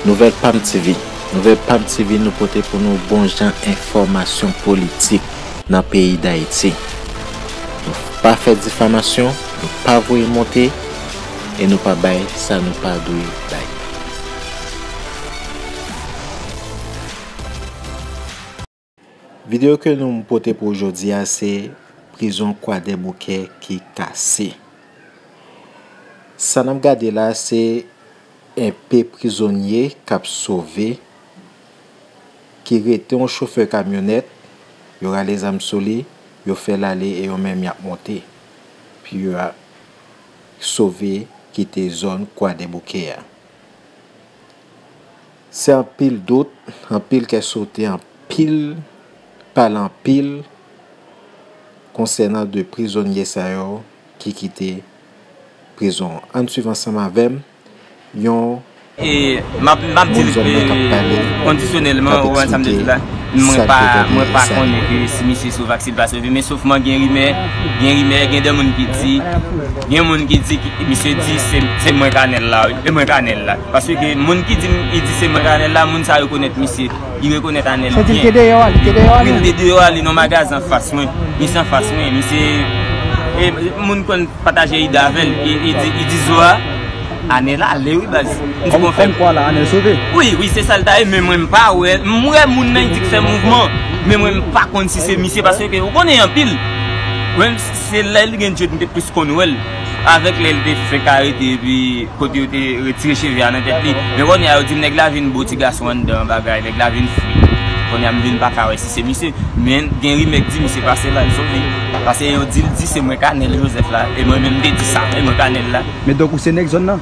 Nouvèl Pam TV Nouvèl Pam TV nou pote pou nou bon jan enfòmasyon politik nan peyi Dayiti. Nou pa fè difamasyon, nou pa voye monte e nou pa bay sa nou pa dwe bay. Video ke nou pote pou jodi a se prizon kwadèboukè ki kase. Sa nap gade la se enpe prizonye kap sove ki rete yon chofè kamyonèt yo rale zam sou li yo fè l ale e yo menm yap monte pou yo sove kite zòn kwadèboukè a. Se anpil dout, anpil kè sote, anpil pale anpil konsènan 2 prizonye sa yo ki kite prizon an. Ann swiv ansanm avè m yon moun zòn nan k ap pale, k ap eksplike sa k te pase. Paske gen moun ki dim ki di se mwen Anel la moun sa rekonèt misye li rekonèt Anel byen. Wi li te deyò a li. Wi li te deyò a li nan magazin anfas mwen. Misye anfas mwen misye e moun konn pataje ide avèl e di zo a Anel ale wi baz. Kòm kwa la Anel sove. Wi wi se sal ta ye men mwen m pa wè m wè moun nan ki di k fè mouvman men mwen m pa konn si se misye paske ou konnen anpil. Se lè li gen dread m te plis konn wèl avèk lè li te fenk arete epi kote yo te retire cheve a nan tèt li men konnya yo dim nèg la vin bo ti gason anndan an bagay nèg la vin fri konnya m vin pa ka wè si se misye men gen rimè k di misye pase bal sou li pase yo dil di se mwen kanèl joseph la e mwen menm m te di sa e mwen kanèl la. Men donk ou se nèg zòn nan?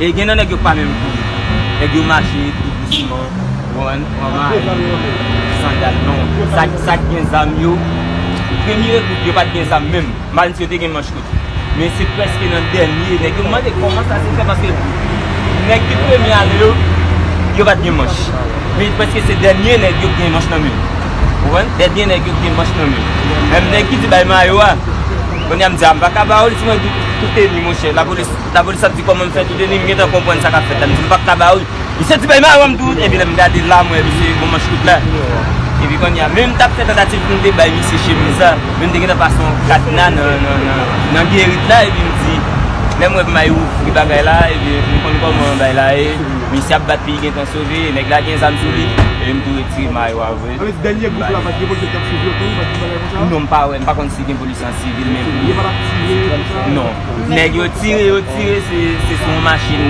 E gen nan nèg yo k pa menm kouri. Nèg yo mache tou dousman, konprann, pran mayo, sandal non. Sa k gen zam yo, premye ekout yo pa t gen zam menm. Mal di yo te gen manch kout. Men se prèske nan dènye, nèg yo mande kòman sa se fè paske nèg ki premye ale yo, yo pa t gen manch. Men prèske se dènye nèg yo k gen manch nan men yo. Konprann? Dènye nèg yo k gen manch nan men yo. Menm nèg ki di bay mayo a, kounye a m di a m pa ka ba ou l si mwen di w tout teni monchè lapolis. La polis ap di kòman m fè toude ni m gentan konprann sa kap fèt la m di m pap ka ba ou li santi bay maron m tou epi lè m gade la m wè misye gen manch kout la epi kounye a men m tap fè tantativ pou m te bay misye chemiz la men m te gentan pase yon kadna nan gerit la epi m di lè m wè m ay ouvri bagay la epi m konn kòman bay la ye misye ap bat pi gentan sove nèg la gen zam sou li epi m tou retire mayo a vre non m pa wè m pa konn si gen polisye an sivil men non. Nèg yo tire yo tire se sou yon machin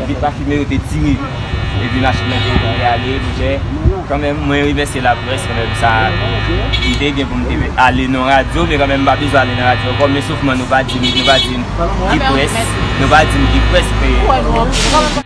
vit pa fimen yo te tire epi machin nan te tonbe ale toujè kanmenm mwen remèsye laprès kanmenm sa m te gen pou m te ale nan radyo men kanmenm m pa bezwen ale nan radyo ankò men sofman nou pa di m nou pa di m ki près nou pa di m ki près pou